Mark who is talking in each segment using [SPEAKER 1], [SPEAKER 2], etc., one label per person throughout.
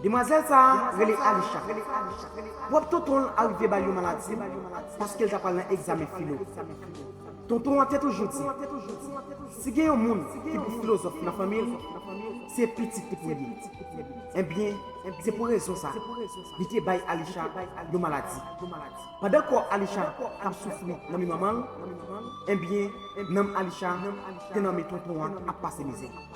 [SPEAKER 1] Demwazèl sa a rele Alisha. Pwòp tonton l arive ba l yon maladi paske l ta pral nan egzamen filo. Tonton an te toujou di, Si gen yon moun ki pou filozòf nan fanmi l, se pitit li pou l ye. Enben, se pou rezon sa a, li te bay Alisha yon maladi. Pandan kò Alisha t ap soufri nan men manman l, enben, nanm Alisha te nan men tonton an ap pase mizè.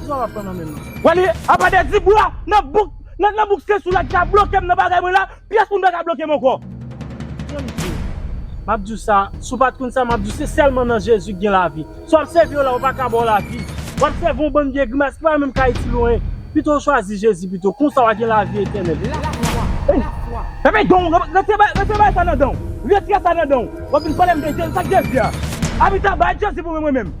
[SPEAKER 2] Kisa
[SPEAKER 3] wap pran nan menm nan? Wally apa de
[SPEAKER 2] di bwa nan bouk nan bouk se sou la ki ka blokem nan bagay mwen la pyès moun paka blokem ankò. Kèm diw, map
[SPEAKER 3] diw sa, si w pat konn sa map diw se sèlman nan Jezi ki gen lavi. Si wap sèvi yon la yo paka baw lavi. Wap sèvi yon bann vye grimas ki pa menm ka itil ou anyen. Pito w chwazi Jezi pito, konsa wa gen lavi etènèl. La fwa, la
[SPEAKER 2] fwa. Fèmen danw, retire bagay, retire bagay sa nan danw. Retire sa nan danw. Wap vin palem de Jezi, sak Jezi a? Abita bay Jezi pou mwen mwen menm.